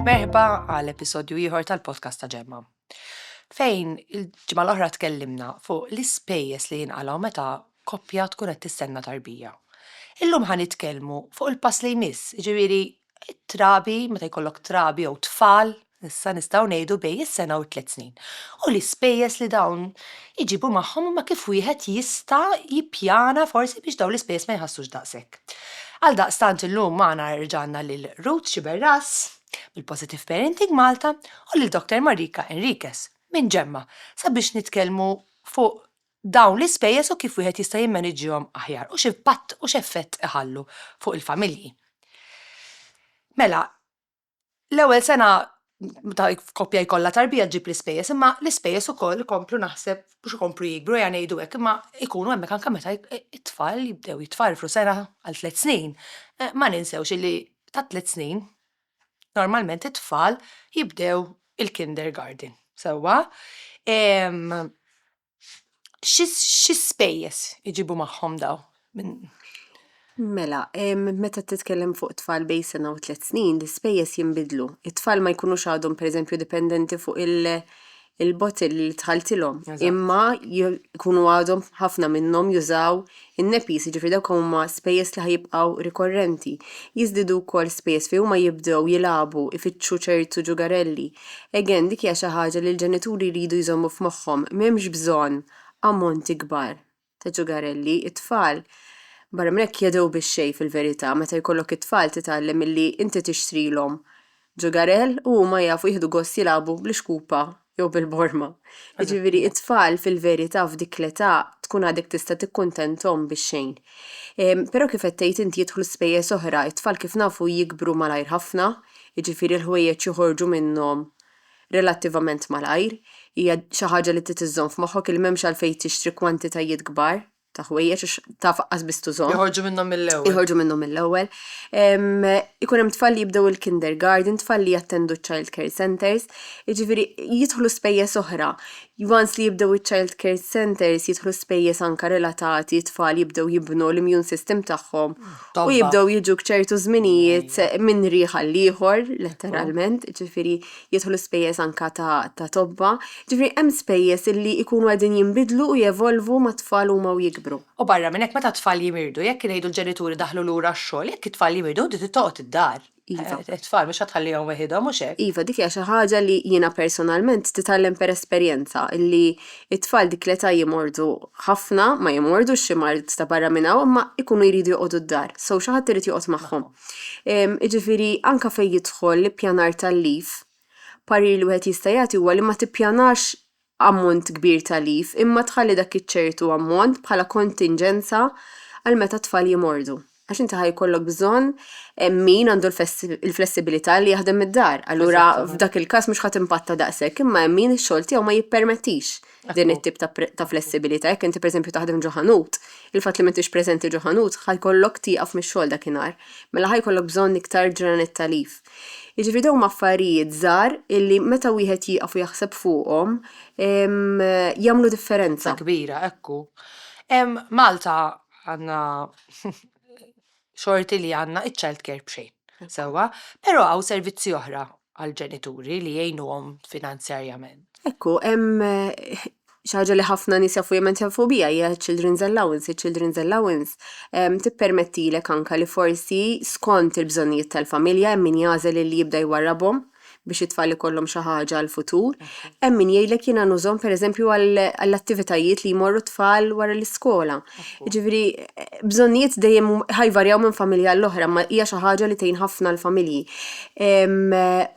Merħba għal episodju ieħor tal-podcast ta' Ġemma. Fejn il-ġimgħa l-oħra tkellimna fuq l-ispejjeż li jinqalgħu meta koppja tkun qed tistenna tarbija. Illum ħa nitkellmu fuq il-pass li jmiss, ġifieri it-trabi, meta jkollok trabi jew tfal, issa nistgħu ngħidu bejn is-sena u t-tliet snin, u l-ispejjeż li dawn iġibu magħhom imma kif wieħed jista' jippjana forsi biex dawn l-ispejjeż ma jħassux daqshekk. Għaldaqstant illum magħna reġa' għandna lil Ruth Sciberras mill-Positive Parenting Malta u lil Doctor Marika Enriquez minn Gemma sabiex nitkellmu fuq dawn l-ispejjeż u kif wieħed jista' jimmaniġġihom aħjar u x'impatt u x'effett iħallu fuq il-familji. Mela, l-ewwel sena ta' koppja jkollha tarbija ġġib l-ispejjeż, imma l-ispejjeż ukoll ikomplu naħseb biex ikomplu jikbru, ejja ngħidu hekk, imma jkunu hemmhekk anke meta t-tfal jibdew jitfarfru sena għal tliet snin. Ma ninsewx illi tat-tliet snin Normalment it-tfal jibdew il-kindergarten, sewwa? Xi spejjeż iġibu magħhom dawn? Mela, meta titkellem fuq tfal bejn sena u tliet snin, l-ispejjeż jinbidlu. It-tfal ma jkunux għadhom pereżempju dipendenti fuq il-bottill li dħaltilhom, imma jkunu għadhom ħafna minnhom jużaw in-NEPIs, jiġifieri dawk huma spejjeż li ħajibqgħu rikorrenti. Jiżdiedu wkoll spejjeż fejn huma jibdew jilagħbu, ifittxu ċertu ġugarelli. Again, dik hija xi ħaġa li l-ġenituri jridu jżommu f'moħħhom, m'hemmx bżonn ammonti kbar. ta' ġugarelli, it-tfal, barra minn hekk jadhru bix-xejn fil-verità, meta jkollok it-tfal titgħallem milli inti tixtrilhom ġugarell u huma jafu jieħdu gost jilagħbu bl-ixkupa jew bil-borma. Jiġifieri it-tfal fil-verità f'dik l-età tkun għadek tista' tikkuntenthom bix-xejn. Però kif qed tgħid inti jidħlu spejjeż oħra, it-tfal kif nafu jikbru malajr ħafna, jiġifieri l-ħwejjeġ joħorġu minnhom relattivament malajr, hija xi ħaġa li trid iżżomm f'moħħok li m'hemmx għalfejn tixtri kwantitajiet kbar ta' ħwejjeġ għax taf aqqas biss tużhom. Joħorġu minnhom mill-ewwel. Joħorġu minnhom mill-ewwel. Ikun hemm tfal li jibdew il-kindergarten, tfal li jattendu ċ-child care centres, jiġifieri jidħlu spejjeż oħra. Once li jibdew iċ-child care centres jidħlu spejjeż anke relatati, tfal jibdew jibnu l-immune system tagħhom u jibdew jiġu b'ċertu żminijiet minn rih għall-ieħor, letteralment, ġifieri jidħlu spejjeż anke ta' tobba. Ġifieri hemm spejjeż illi jkunu qegħdin jinbidlu u jevolvu mat-tfal huma u jikbru. U barra minn hekk meta t-tfal jimirdu, jekk ngħidu l-ġenituri daħlu lura x-xogħol, jekk it-tfal jimirdu inti trid toqgħod id-dar. Iva. It-tfal mhux ħadd tħallihom weħidhom, mhux hekk? Iva, dik hija xi ħaġa li jiena personalment titgħallem per esperjenza, illi t-tfal dik l-età jimgħordu ħafna, ma jimgħordux xi mard ta' barra minn hawn, imma jkunu jridu joqogħdu d-dar, so xi ħadd irid joqgħod magħhom. Jiġifieri anke fejn jidħol l-ippjanar tal-leave, parir li wieħed jista' jagħti huwa li ma tippjanax ammont kbir ta' leave imma tħalli dak iċ-ċertu ammont bħala kontinġenza għal meta t-tfal jimordu. Għax inti ħa jkollok bżonn min għandu l-flessibilità li jaħdem mid-dar. Allura f'dak il-każ mhux ħadd impatta daqshekk, imma hemm min ix-xogħol tiegħu ma jippermettix din it-tip ta' flessibilità. Jekk inti pereżempju taħdem ġo ħanut, il-fatt li m'intix preżenti ġo ħanut ħa jkollok tieqaf mix-xogħol dak inhar. Mela ħa jkollok bżonn iktar ġranet ta' leave. Jiġifieri dawn huma affarijiet żgħar illi meta wieħed jieqaf u jaħseb fuqhom jagħmlu differenza. kbira, ekku. Malta għandna xorti li għandna iċ-child care b'xejn, sewwa, però hawn servizzi oħra għall-ġenituri li jgħinuhom finanzjarjament. Ekku, hemm xi ħaġa li ħafna nies jafu jemmen jafu biha hija children's allowance. Il-children's allowance ehm, tippermettilek anka li forsi skont il-bżonnijiet tal-familja hemm min jagħżel li jibda jwarrabhom biex it-tfal ikollhom xi ħaġa għal futur. Hemm min jgħidlek jiena nużhom pereżempju għall-attivitajiet li jmorru t-tfal wara l-iskola. Jiġifieri bżonnijiet dejjem ħajvarjaw minn familja għall oħra imma hija xi ħaġa li tgħin ħafna l-familji.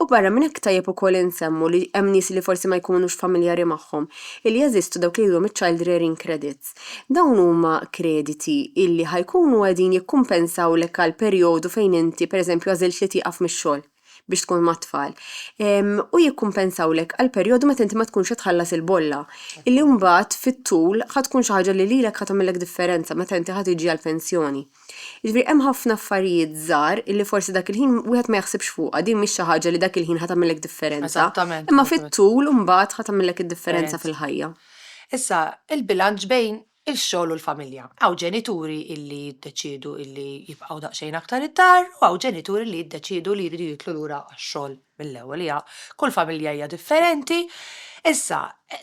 U barra minn hekk tajjeb ukoll insemmu li hemm nies li forsi ma jkunux familjari magħhom illi jeżistu dawk li jgħidulhom iċ-child rearing credits. Dawn huma krediti illi ħajkunu qegħdin jikkumpensawlek għal perjodu fejn inti pereżempju għażilt li tieqaf mix-xogħol. biex tkun mat-tfal, u jikkumpensawlek għall-perjodu meta inti ma tkunx qed tħallas il-bolla, illi mbagħad fit-tul ħa tkun xi ħaġa li lilek ħa tagħmillek differenza meta inti ħa tiġi għall-pensjoni. Jiġifieri hemm ħafna affarijiet żgħar illi forsi dak il-ħin wieħed ma jaħsibx fuqha, din mhix xi ħaġa li dak il-ħin ħa tagħmillek differenza, imma fit-tul mbagħad ħa tagħmillek id-differenza fil-ħajja. Issa, il-bilanċ bejn ix-xogħol u l-familja. Hawn ġenituri li jiddeċiedu li jibqgħu daqsxejn aktar id-dar u hawn ġenituri li jiddeċiedu li jridu jidħlu lura għax-xogħol mill-ewwel. Hija, kull familja hija differenti. Issa,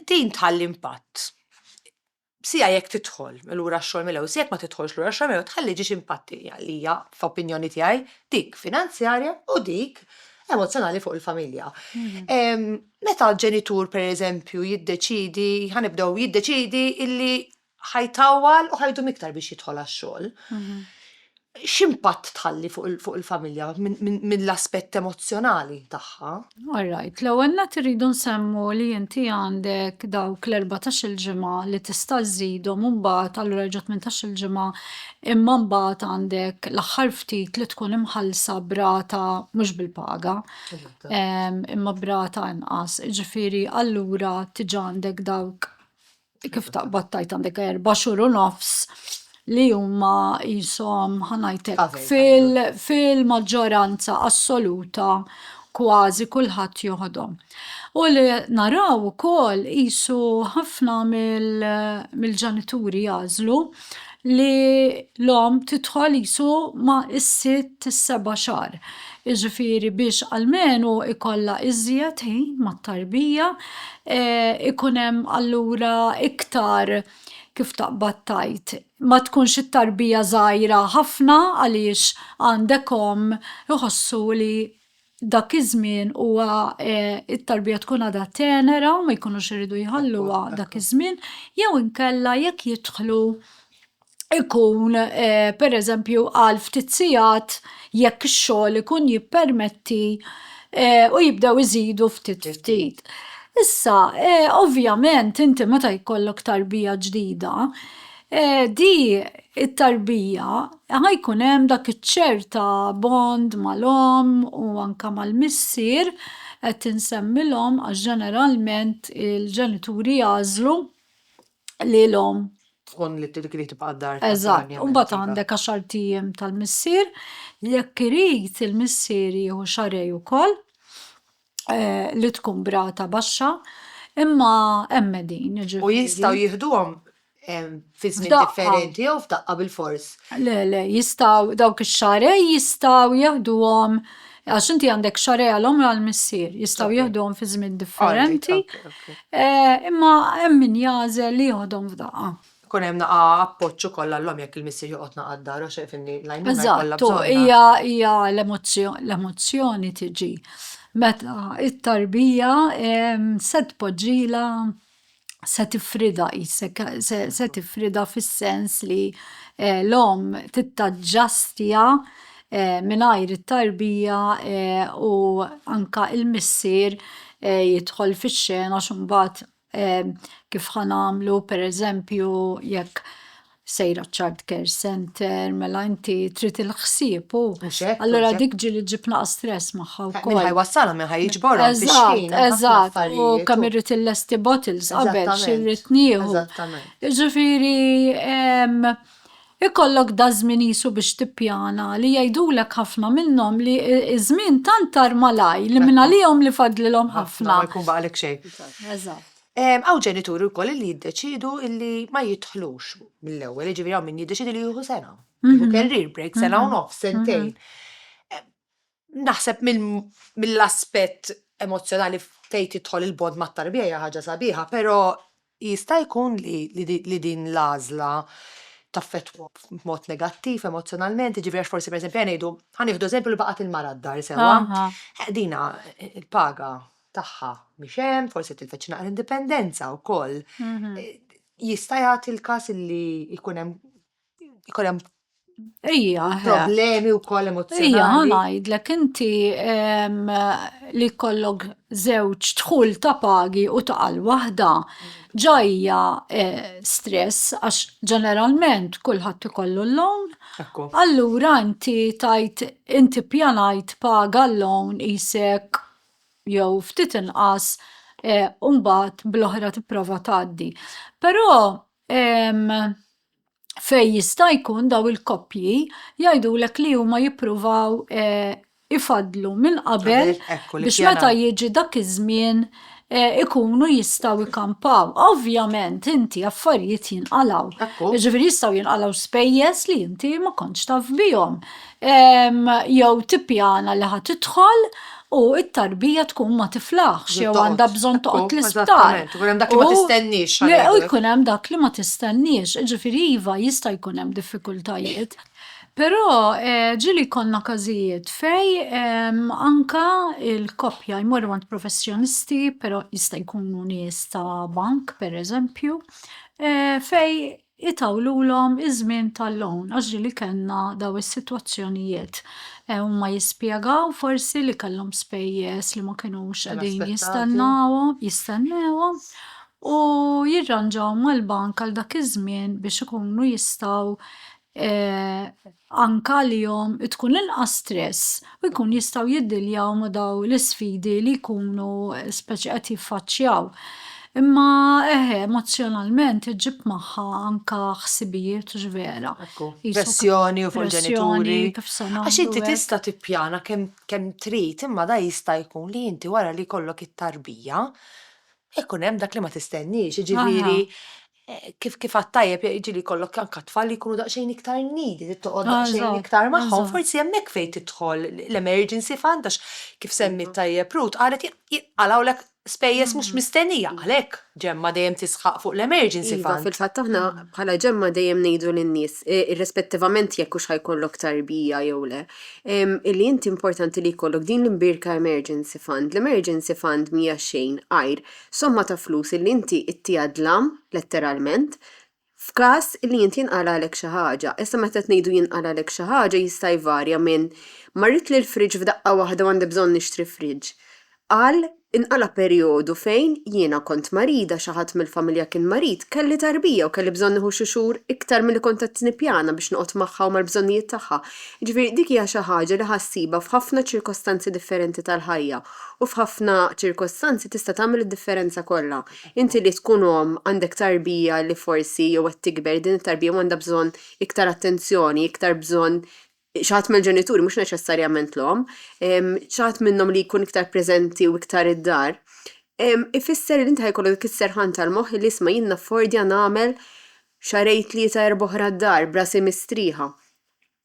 din tħalli impatt. Sija jekk tidħol lura għax-xogħol mill-ewwel, sija jekk ma tidħolx lura għax-xogħol mill-ewwel, tħalli ġiex impatti li hija, f'opinjoni tiegħi, dik finanzjarja u dik emozzjonali fuq il-familja. Meta ġenitur pereżempju jiddeċiedi, ħa nibdew, jiddeċiedi illi ħa jtawwal u ħa jdum iktar biex jidħol għax-xogħol, x'impatt tħalli fuq il-familja mill-aspett emozzjonali tagħha? All right, l-ewwel nett irridu nsemmu li inti għandek dawk l-erbatax-il ġimgħa li tista' żżidhom u mbagħad allura reġa' tmintax-il ġimgħa imma mbagħad għandek l-aħħar ftit li tkun imħallsa b'rata mhux bil-paga. imma brata inqas, ġifiri allura tiġa għandek dawk kif taqbad tajt għandek erba' xhur u nofs li huma jisom ħanajtek fil-maġġoranza assoluta kważi kulħadd joħodhom. U li naraw ukoll qisu ħafna mill-ġenituri jażlu li l-omm tidħol qisu ma' is-sitt is-seba' xahar. Jiġifieri biex almenu ikollha iżjed ħin mat-tarbija, ikun hemm allura iktar kif taqbad tgħid, ma tkunx it-tarbija żgħira ħafna għaliex għandek omm iħossu li dak iż-żmien huwa it-tarbija tkun għadha tenera u ma jkunux iridu jħalluha dak iż-żmien, jew inkella jekk jidħlu ikun pereżempju għal ftit sigħat jekk ix-xogħol ikun jippermetti u jibdew iżidu ftit ftit. Issa ovvjament inti meta jkollok tarbija ġdida, di it-tarbija ħa jkun hemm dak iċ-ċer ta' bond mal-omm u anke mal-missier, qed insemmi l-omm għax ġeneralment il-ġenituri jagħżlu li l-omm tkun li tibqa' d-dar. Eżatt, u mbagħad għandek għaxart ijiem tal-missier, jekk irid il-missier jieħu xarej ukoll. li tkun brata baxxa imma hemm qegħdin jiġifieri. U jistgħu jieħduhom fi żmien differenti jew f'daqqa bil-fors. Le, le, jistgħu dawk ix-xarej jistgħu jieħduhom għax inti għandek xarej għal omra għal missier, jistgħu jieħduhom fi żmien differenti. Imma hemm min jażel li jieħodhom f'daqqa. Ikun hemm naqa' appoġġ ukoll għall-omm jekk il-missier joqgħod naqa' d-dar għax jaf li l-għajnuna jkollha bżonnha. Eżatt, u hija hija l-emozzjoni l-emozzjoni tiġi meta t-tarbija se tpoġġilha se tifridha qisek se se tifridha fis-sens li l-omm tittaġġastja mingħajr it-tarbija u anke l-missier jidħol fix-xena għax imbagħad kif ħa nagħmlu pereżempju jekk sejra child care center, mela inti trid il-ħsieb u. Allura dik ġili ġib naqa' stress magħha wkoll. Minn ħajwassalhom minn ħajġborhom. Eżatt, eżatt, u kemm irrid illesti bottles qabel xi rrid nieħu. Ġifieri Ikollok daż-żmien qisu biex tippjana, li jgħidulek ħafna minnhom li ż-żmien tant tar malajr li mingħalihom li fadlilhom ħafna. Ma jkun baqalek xejn. Eżatt. Hawn ġenituri wkoll li jiddeċiedu li ma jidħlux mill-ewwel, jiġifieri hawn min jiddeċiedi li jieħu sena, jieħu career break, sena u nofs, sentejn. Naħseb mill-aspett emozzjonali fejn tidħol il-bond mat-tarbija hija ħaġa sabiħa, però jista' jkun li din l-għażla taffettwa b'mod negattiv emozzjonalment, jiġifieri għax forsi pereżempju ejja ngħidu, ħa nieħdu eżempju li baqgħet il-mara d-dar sewwa, dinha l-paga tagħha mhix hemm, forsi tilfet xi naqra indipendenza wkoll. Jista' jagħti l-każ li jkun hemm jkun hemm Ija, problemi u koll emozjonali. Ija, għanajdlek, inti li kollok zewċ tħul ta' pagi u ta' għal wahda, ġajja e, stress, għax ġeneralment kullħat ikollu l-lawn. Allura inti tajt, inti pjanajt paga l-lawn jisek jew ftit inqas e, umbat bl-oħra tipprova taddi. Pero, fejn jista' jkun dawn il-koppji jgħidulek li huma jippruvaw ifaddlu minn qabel biex meta jiġi dak iż-żmien ikunu jistgħu jkampaw. Ovvjament inti affarijiet jinqalgħu. Jiġifieri jistgħu jinqalgħu spejjeż li inti ma kontx taf bihom. jew tippjana li ħa tidħol u t-tarbija tkun ma tiflaħx jew għandha bżonn toqgħod l-isptar. U hemm dak li ma tistenniex. U jkun hemm dak li ma tistenniex, ġifieri iva jista' jkun hemm diffikultajiet. Però ġieli jkollna każijiet fejn anke l-koppja jmorru għand professjonisti, però jista' jkunu nies ta' bank pereżempju, fejn itawlulhom iż-żmien tal-loan għax ġieli kellna dawn is-sitwazzjonijiet. Huma jispjegaw forsi li kellhom spejjeż li ma kinux qegħdin jistennawhom, jistennewhom u jirranġaw mal-bank għal dak iż-żmien biex ikunu jistgħu anke għalihom tkun inqas stress u jkun jistgħu jiddiljaw ma' dawn l-isfidi li jkunu speċi qed jiffaċċjaw. Imma eħe, emozzjonalment iġġib magħha anke ħsibijiet hux vera? Ekku, pressjoni u fuq il-ġenituri. Għax inti tista' tippjana kemm kemm trid imma da jista' jkun li inti wara li jkollok it-tarbija, ikun hemm dak li ma tistenniex, jiġifieri kif kif għad tajjeb jiġieli jkollok anke tfal li jkunu daqsxejn iktar needy, trid toqgħod daqsxejn iktar magħhom, forsi hemmhekk fejn tidħol l-emergency fund għax kif semmiet tajjeb Ruth qalet jinqalgħulek spejjeż mhux mistennija, għalhekk Ġemma dejjem tisħaq fuq l-emergency fund. Iva, fil-fatt aħna bħala Ġemma dejjem ngħidu lin-nies, irrispettivament jekk hux ħajkollok tarbija jew le, illi inti importanti li jkollok din l-imbierka emergency fund. L-emergency fund mhija xejn għajr somma ta' flus li inti ittiha dlam, letteralment, f'każ li inti jinqalagħlek xi ħaġa. Issa meta qed ngħidu jinqalagħlek xi ħaġa jista' jvarja minn marritli l-fridge f'daqqa waħda u għandi bżonn nixtri fridge għal inqala' perjodu fejn jiena kont marida, xi ħadd mill-familja kien marid, kelli tarbija u kelli bżonn nieħu xi xhur iktar milli kont qed nippjana biex noqgħod magħha u mal-bżonnijiet tagħha. Jiġifieri dik hija xi ħaġa li ħa ssibha f'ħafna ċirkostanzi differenti tal-ħajja. U f'ħafna ċirkostanzi tista' tagħmel id-differenza kollha. Inti li tkun omm għandek tarbija li forsi jew qed tikber, din it-tarbija għandha bżonn iktar attenzjoni, iktar bżonn xi ħadd mill-ġenituri, mhux neċessarjament l-omm, xi ħadd minnhom li jkun iktar preżenti u iktar id-dar, ifisser li inti ħa jkollok dik is-serħan tal-moħħ li isma' jien naffordja nagħmel xahrejn tlieta erbgħa oħra d-dar b'rasi mistrieħa.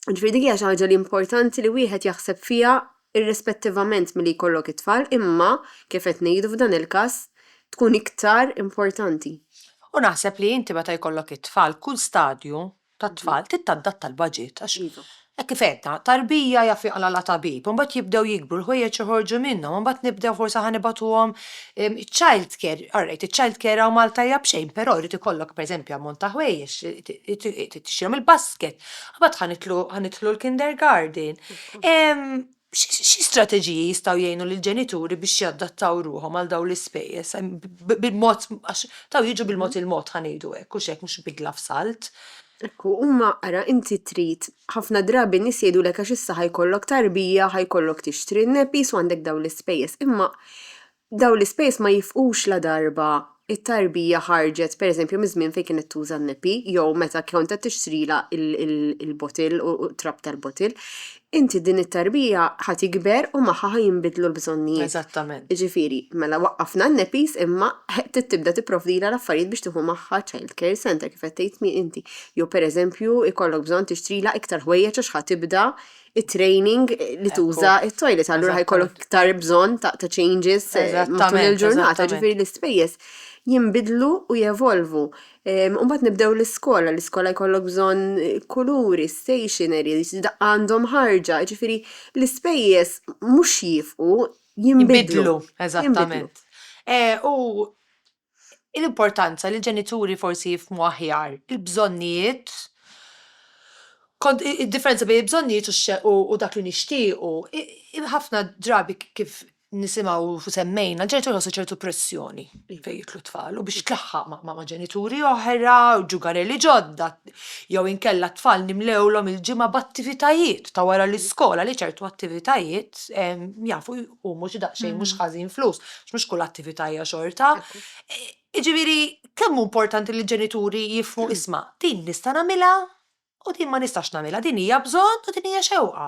Ġifieri dik hija xi ħaġa li importanti li wieħed jaħseb fiha irrispettivament milli jkollok it-tfal imma, kif qed ngħidu f'dan il-każ, tkun iktar importanti. U naħseb li inti meta jkollok it-tfal, kull stadju tat-tfal trid tadatta l-baġit għax hekk kif għedna, tarbija jaf jaqlagħla tabib, imbagħad jibdew jikbru, l-ħwejjeġ joħorġu minnhom, imbagħad nibdew forsi ħa nibagħtuhom Childcare, alright, iċ-childcare hawn Malta hija b'xejn, però jrid ikollok pereżempju ammont ta' ħwejjeġ, trid tixtrihom il-basket, imbagħad ħa nidħlu ħa nidħlu l-kindergarten. Xi strateġiji jistgħu jgħinu lill-ġenituri biex jadattaw ruħhom għal dawn l-ispejjeż bil-mod għax dawn jiġu bil-mod il-mod ħa ngħidu hekk, hux hekk, mhux bidla f'salt. Hekk hu, imma ara, inti trid, ħafna drabi n-nies jgħidulek għax issa ħa jkollok tarbija, ħa jkollok tixtri n-nepis u għandek dawn l-ispejjeż. Imma dawn l-ispejjeż ma jifqux ladarba t-tarbija ħarġet, pereżempju, miż-żmien fejn kienet tuża n-nepi jew meta kont qed tixtrilha l-bottle u t-trab tal-bottle. inti din it-tarbija ħa tikber u magħha ħa jinbidlu l-bżonnijiet. Eżattament. Jiġifieri, mela waqqafna n-nepis imma trid tibda tipprovdilha l-affarijiet biex tieħu magħha child care centre kif qed tgħid inti. Jew pereżempju jkollok bżonn tixtrilha iktar ħwejjeġ għax ħa tibda it-training li tuża t-toilet allura ħa jkollok iktar bżonn ta' changes matul il-ġurnata. Ġifieri l-ispejjeż jinbidlu u jevolvu. Imbagħad nibdew l-iskola, l-iskola jkollok bżonn kuluri, stationery, daqqa għandhom ħarġa, ġifieri l-ispejjeż mhux jifqu, jinbidlu. Eżattament. U l-importanza li l-ġenituri forsi jifhmu aħjar il-bżonnijiet, id-differenza bejn il-bżonnijiet u dak li nixtiequ, ħafna drabi kif nisimgħu u semmejna, ġenitur ħossu ċertu pressjoni fejn jitlu tfal u biex tlaħħaq ma' ġenituri oħra, ġugareli ġodda, jew inkella tfal nimlewlhom il-ġimgħa b'attivitajiet ta' wara l-iskola li ċertu attivitajiet jafu jqumu xi daqsxejn mhux ħażin flus, mhux kull attività hija xorta. Jiġifieri kemm hu importanti li ġenituri jifhmu isma' din nista' nagħmilha u din ma nistax nagħmilha, din hija bżonn u din hija xewqa.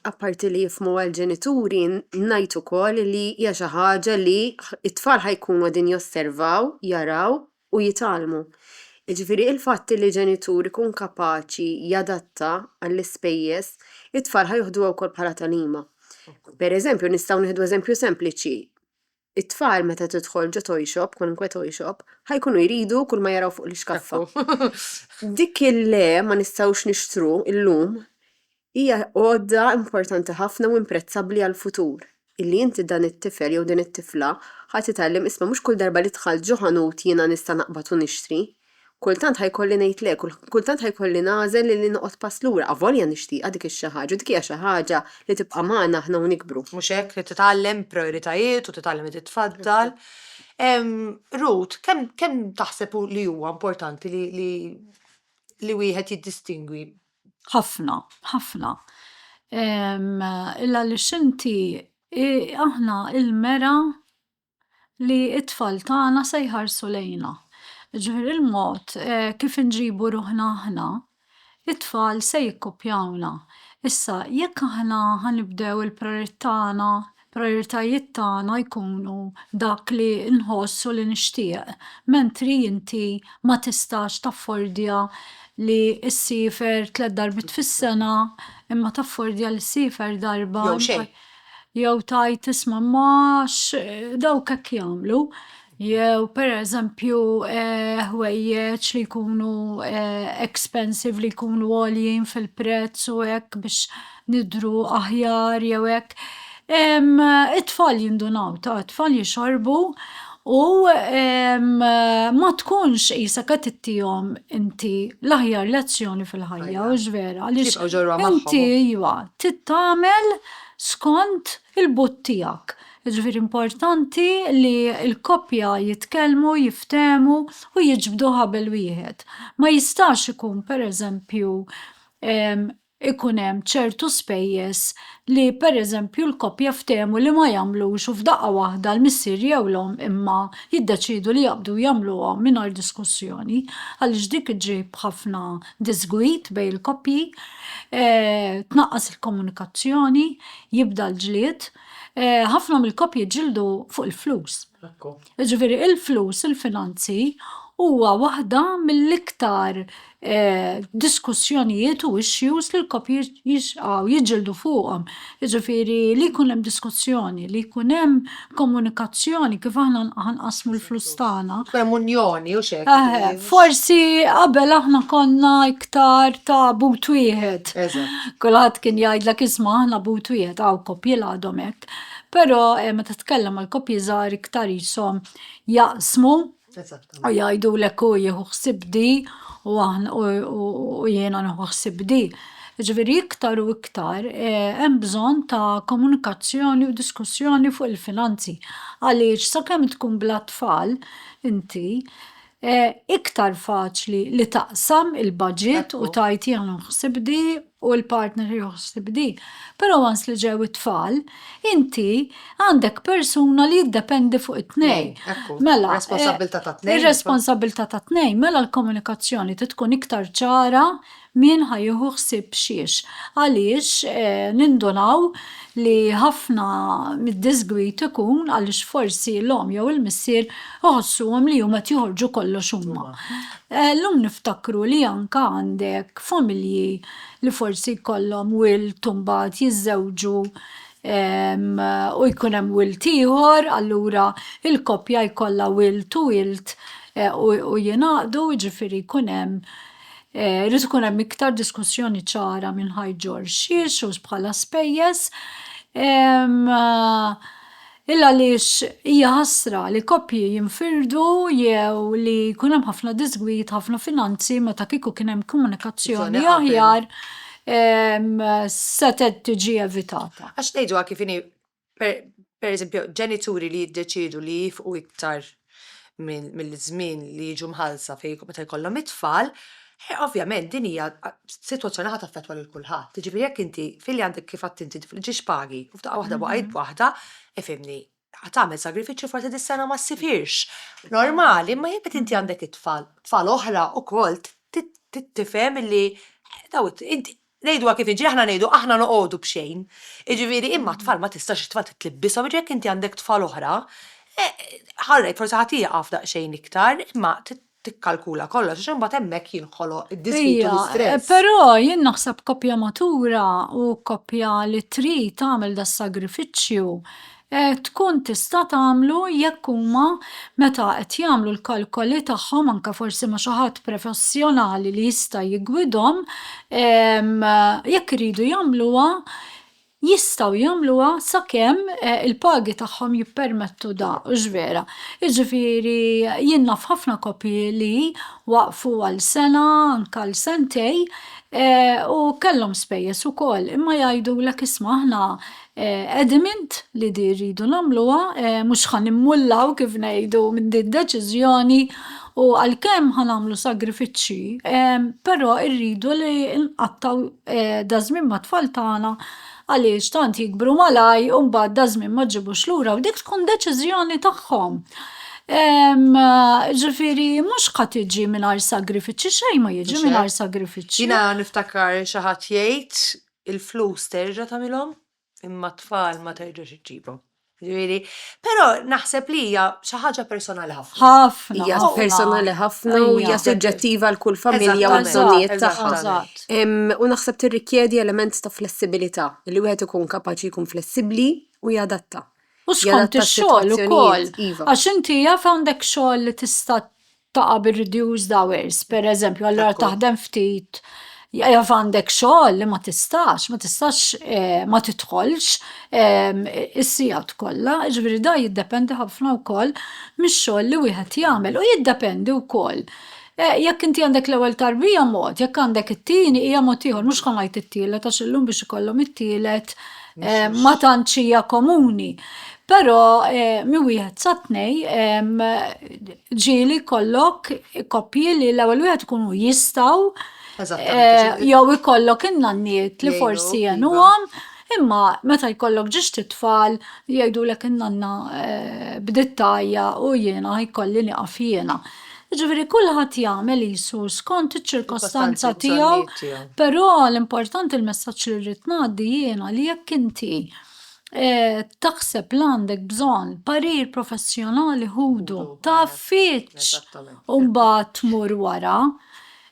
Apparti li jifhmu għall-ġenituri, ngħid ukoll li hija xi ħaġa li t-tfal ħa jkunu qegħdin josservaw, jaraw u jitgħallmu. Jiġifieri l-fatt li ġenitur ikun kapaċi jadatta għall-ispejjeż, it-tfal ħa joħduha wkoll bħala tagħlima. Pereżempju, nistgħu nieħdu eżempju sempliċi, It-tfal meta tidħol ġo toy shop, kwalunkwe toy shop, ħajkunu jridu kull ma jaraw fuq l-ixkaffa. Dik il-le ma nistgħux nixtru llum hija għodda importanti ħafna u imprezzabbli għall-futur. Illi inti dan it-tifel jew din it-tifla ħa titgħallem isma' mhux kull darba li dħalt ġo ħanut jiena nista' naqbad u nixtri. Kultant ħa jkolli ngħid le, kultant ħa jkolli nagħżel li noqgħod pass lura, avolja nixtieqha dik ix-xi ħaġa u dik hija xi ħaġa li tibqa' magħna aħna u nikbru. Mhux hekk, li titgħallem prijoritajiet u titgħallem li titfaddal. Ruth, kemm taħseb li huwa importanti li wieħed jiddistingwi? Ħafna, ħafna. Għaliex inti, aħna, il-mera, li t-tfal tagħna se jħarsu lejna. Jiġifieri l-mod kif inġibu ruħna aħna, it-tfal se jikkupjawna. Issa, jekk aħna ħa nibdew il-prijoritajiet tagħna jkunu dak li nħoss u li nixtieq, mentri inti ma tistax taffordja li ssifer tliet darbiet fis-sena imma taffordja li ssifer darba, jew tgħid isma' ma dawk hekk jagħmlu jew pereżempju ħwejjeġ li jkunu expensive li jkunu għoljin fil-prezz u hekk biex nidhru aħjar jew hekk. It-tfal jindunaw, it-tfal jixorbu U ma tkunx qisek qed ittihom inti l-aħjar lezzjoni fil-ħajja, hux vera? Għaliex inti iva, tittamel skont il-but tiegħek. Jiġifieri importanti li l-koppja jitkellmu, jiftehmu u jiġbdu ħabel wieħed. Ma jistax ikun pereżempju ikun hemm ċertu spejjeż li pereżempju l-koppja ftehmu li ma jagħmlux u f'daqqa waħda l-missier jew l-omm imma jiddeċiedu li jaqbdu u jagħmluhom mingħajr diskussjoni għaliex dik iġġib ħafna diżgwid bejn il-koppji, tnaqqas il-komunikazzjoni, jibda l-ġlied. Ħafna mill-koppji jġildu fuq il-flus. Jiġifieri l-flus, il-finanzi, huwa waħda mill-iktar diskussjonijiet u issues li l-COP jixqgħu jiġġieldu fuqhom. Jiġifieri li jkun hemm diskussjoni, li jkun hemm komunikazzjoni kif aħna ħanqassmu l-flus tagħna. Jkun hemm unjoni u x'hekk. Eħe, forsi qabel aħna konna iktar ta' but wieħed. Eżatt. Kulħadd kien jgħidlek isma' aħna but wieħed, hawn COP-jiel għadhom hekk. hekk, però meta tkellem mal-koppji żgħar iktar qishom jaqsmu u jgħidulek hu jieħu ħsieb di u jiena nieħu ħsieb di. Jiġifieri iktar u iktar hemm bżonn ta' komunikazzjoni u diskussjoni fuq il-finanzi għaliex sakemm tkun bla tfal inti iktar faċli li taqsam il-baġit u tgħid jiena nieħu ħsieb di u l-partner iħoss bi din, però once li ġew it-tfal, inti għandek persuna li jiddependi fuq it-tnejn. Mela, ir-responsabbiltà tat-tnejn, mela l-komunikazzjoni trid tkun iktar ċara min ħa jieħu ħsieb x'hiex. Għaliex nindunaw li ħafna mid-disgwid ikun għaliex forsi l-omm jew il-missier Iħossuhom li huma qed joħorġu kollox huma. Llum niftakru li anke għandek familji li forsi jkollhom wild u mbagħad jiżżewġu u jkun hemm wild ieħor, allura l-koppja jkollha wild u wild u jingħaqdu, jiġifieri jkun hemm, irid ikun hemm iktar diskussjoni ċara minn ħajġorx xiex u bħala spejjeż. Illa għaliex hija ħasra li koppji jinfirdu jew li jkun hemm ħafna diżgwid, ħafna finanzi meta kieku kien hemm komunikazzjoni aħjar setgħet tiġi evitata. Għax ngħiduha kif inhi, pereżempju, ġenituri li jiddeċiedu li jifqu iktar mill-żmien li jiġu mħallsa fi meta jkollhom it-tfal, ovvjament din hija sitwazzjoni ħa taffettwa lil kulħadd. Jiġifieri jekk inti filli għandek kif għadt inti ġiex pagi u f'daqqa waħda waqajt b'waħda, ifhimni, ħa tagħmel sagrifiċċju forsi dis-sena ma ssifirx. Normali, imma jekk inti għandek it-tfal, tfal oħra wkoll, tifhem li dawn Ngħiduha kif inhi, aħna ngħidu aħna noqogħdu b'xejn. Jiġifieri imma t-tfal ma tistax it-tfal titlibbishom, jiġifieri jekk inti għandek tfal oħra, ħarrejk forsi ħadd jieqaf daqsxejn iktar, imma trid tikkalkula kollox għax imbagħad hemmhekk jinħoloq id-diżgwid u l-istress. Ija, però jien naħseb koppja matura u koppja li trid tagħmel das-sagrifiċċju, tkun tista' tagħmlu jekk huma meta qed jagħmlu l-kalkoli tagħhom anke forsi ma' xi ħadd professjonali li jista' jiggwidhom jekk iridu jagħmluha jistgħu jagħmluha sakemm il-pagi tagħhom jippermettu dan, hux vera? Jiġifieri jien naf ħafna koppji li waqfu għal sena anke għal sentejn u kellhom spejjeż ukoll imma jgħidulek isma' aħna Adamant li di rridu nagħmluha, mhux ħa nimmullaw kif ngħidu minn din deċiżjoni u għalkemm ħa nagħmlu sagrifiċċji, però rridu li nqattgħu da żmien mat-tfal tagħna għaliex tant jikbru malaj u mbagħad da żmien ma ġġibux lura u dik tkun deċiżjoni tagħhom. Ġifieri mhux ħa tiġi mingħajr sagrifiċċji, xejn ma jiġi mingħajr sagrifiċċji. Jiena niftakar xi ħadd jgħid il-flus terġa' tagħmilhom imma t-tfal ma terġax iġġibhom. Ġifieri, però naħseb li hija xi ħaġa personali ħafna. Ħafna. Hija personali ħafna u hija suġġettiva għal kull familja u l-bżonnijiet tagħha. U naħseb tirrikjedi element ta' flessibilità, li wieħed ikun kapaċi jkun flessibbli u jadatta. U skont ix-xogħol ukoll. Għax inti jaf għandek xogħol li tista' taqa' bir-reduced hours, pereżempju, allura taħdem ftit, jaf għandek xogħol li ma tistax, ma tistax ma tidħolx is-sigħat kollha, jiġifieri dan jiddependi ħafna wkoll mix-xogħol li wieħed jagħmel u jiddependi wkoll jekk inti għandek l-ewwel tarbija mod, jekk għandek it-tieni hija mod ieħor, mhux bħalma jgħid it-tielet għax illum biex ikollhom it-tielet. ma tantx hija komuni. Però eh, mi wieħed sa tnej ġieli kollok koppji li l-ewwel wieħed ikunu jistgħu eh, jew ikollok in-nanniet li forsi iva. jenuhom imma meta jkollok ġiex titfal jgħidulek in-nanna eh, bdiet tajja u jiena jkolli nieqaf jiena. Jiġifieri kulħadd jagħmel qisu skont iċ-ċirkostanza tiegħu, però l-importanti l-messaġġ li rrid ngħaddi jiena li jekk inti taħseb li għandek bżonn parir professjonali ħudu, tafitx u mbagħad tmur wara,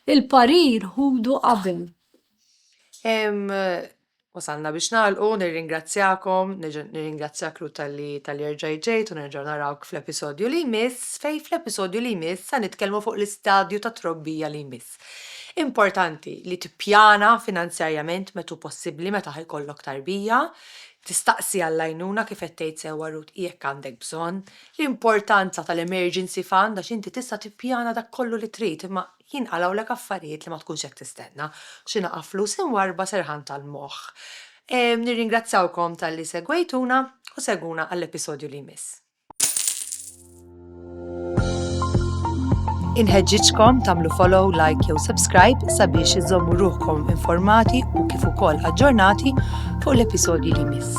il-parir ħudu qabel. Wasalna biex nagħlqu, nirringrazzjakom, nerġa' nirringrazzjak Ruth talli talli rġajt ġejt u nerġgħu narawk fl-episodju li jmiss fejn fl-episodju li jmiss sa nitkellmu fuq l-istadju tat-trobbija li jmiss. Importanti li tippjana finanzjarjament met hu possibbli meta ħa jkollok tarbija, tistaqsi għall-għajnuna kif qed tgħid sewwa Ruth jekk għandek bżonn, l-importanza tal-emergency fund għax inti tista' tippjana dak kollu li trid imma jinqalgħulek affarijiet li ma tkunx qed tistenna. Xi naqa' flus imwarrba serħan tal-moħħ. Nirringrazzjawkom talli segwejtuna u segwuna għall-episodju li jmiss. Inħeġġiġkom tagħmlu follow, like jew subscribe sabiex iżżommu ruħkom informati u kif ukoll aġġornati fuq l-episodji li jmiss.